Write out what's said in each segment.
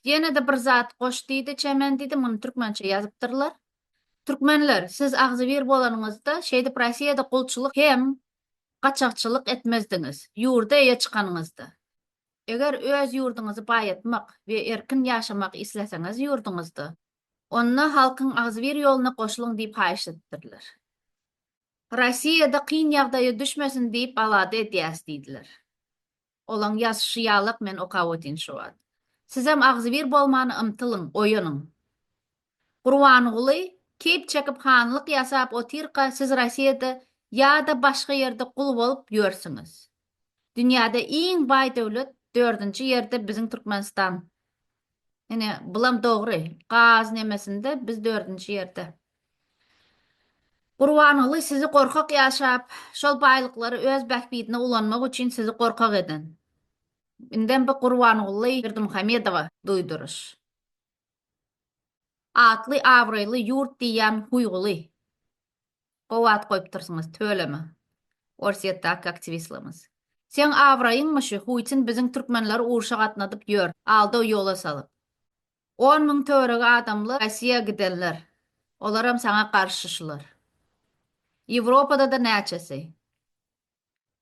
Ýene-de bir zat goş diýdi, Çemen diýdi, muny türkmençe ýazypdyrlar. Türkmenler, siz agzybir bolanyňyzda, şeýdip Rossiýada gulçulyk hem gaçakçylyk etmezdiňiz, ýurda eýe çykanyňyzda. Eger öz ýurduňyzy baýatmak we erkin ýaşamak isleseňiz ýurduňyzda, onda halkyň agzybir ýoluna goşulyň diýip haýyş edipdirler. Rossiýada kyn ýagdaýa düşmesin diýip alada edýäs diýdiler. Olaň ýazyşy ýalak men okap otyn şu wagt. Sizem agzybir bolman ymtylyň, oýanyň. Gurbanguly keýp çekip hanlyk ýasap otyrka siz Rossiýada ýa-da başga ýerde gul bolup ýörsüňiz. Dünýäde iň baý döwlet dördünji ýerde biziň Türkmenistan. Ine bulam dogry. Gaz nemesinde biz dördünji ýerde. Gurbanguly sizi gorkak ýaşap, şol baýlyklary öz bähbidine ulanmak üçin sizi gorkak eden. Indem bu Gurbanguly Berdimuhamedowa duýduryş. Atly abraýly ýurt diýýän huýguly. Gowy at goýupdyrsyňyz, tüweleme. Orsýetdäki aktiwistlerimiz. Seň abraýyňmy şu, huýtin biziň türkmenleri urşa gatnadyp ýör, aldaw ýola salyp. On müň törege adamlar Rossiýa gidenler. Olaram saňa garşy şular. Ýewropada-da näçesi.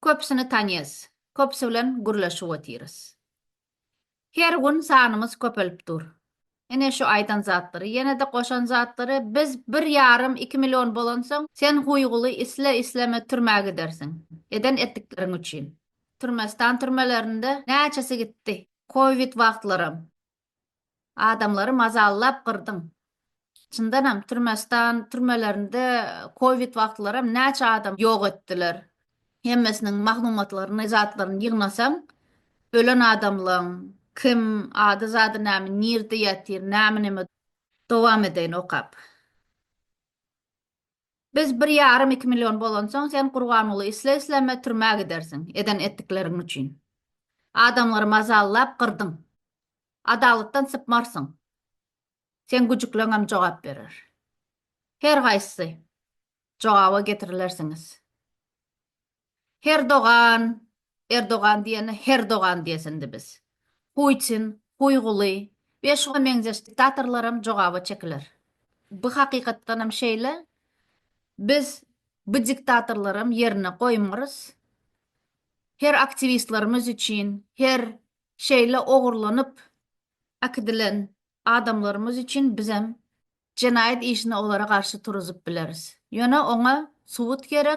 Köpüsini tanýas. Köpüsi bilen gürleşip otyrys. Her gün sanymyz köpelip dur. Ine şu aýdan zatlary, ýene-de goşan zatlary biz bir ýarym, iki million bolansoň, sen huýguly isle-isleme türmä gidersiň. Eden etdikleriň üçin. Türmestan türmelerinde näçesi gitdi. Kowid wagtlaram. Adamlary mazallap gyrdyň. Çyndanam Türmestan türmelerinde covid wagtlaram näçe adam ýok etdiler. Hemmesiniň maglumatlaryny zatlaryny ýygnasaň ölen adamlaň kim ady zady näme nirde ýatyr näme neme dowam edeýin okap. Biz bir ýarym-iki million bolansoň, sen Gurbanguly isle-isleme türmä gidersiň, eden etdikleriň üçin. Adamlary mazallap gyrdyň. Adalatdan sypmarsyň. Seň güjükleňem jogap berer. Her haýsy jogaba getirilersiňiz. Herdogan, Erdogan diýende Herdogan diýesindi biz. Putin, Huýguly we şuňa meňzeş diktatorlaram jogaba çekiler. Bu hakykatdanam şeýle. Biz bu diktatorlaram ýerine goýmarys. Her aktiwistlerimiz üçin, her şeýle ogurlanyp äkidilen adamlarymyz üçin bizem jenaýat işini olara garşy turuzyp bileris. Ýöne oňa subut gerek.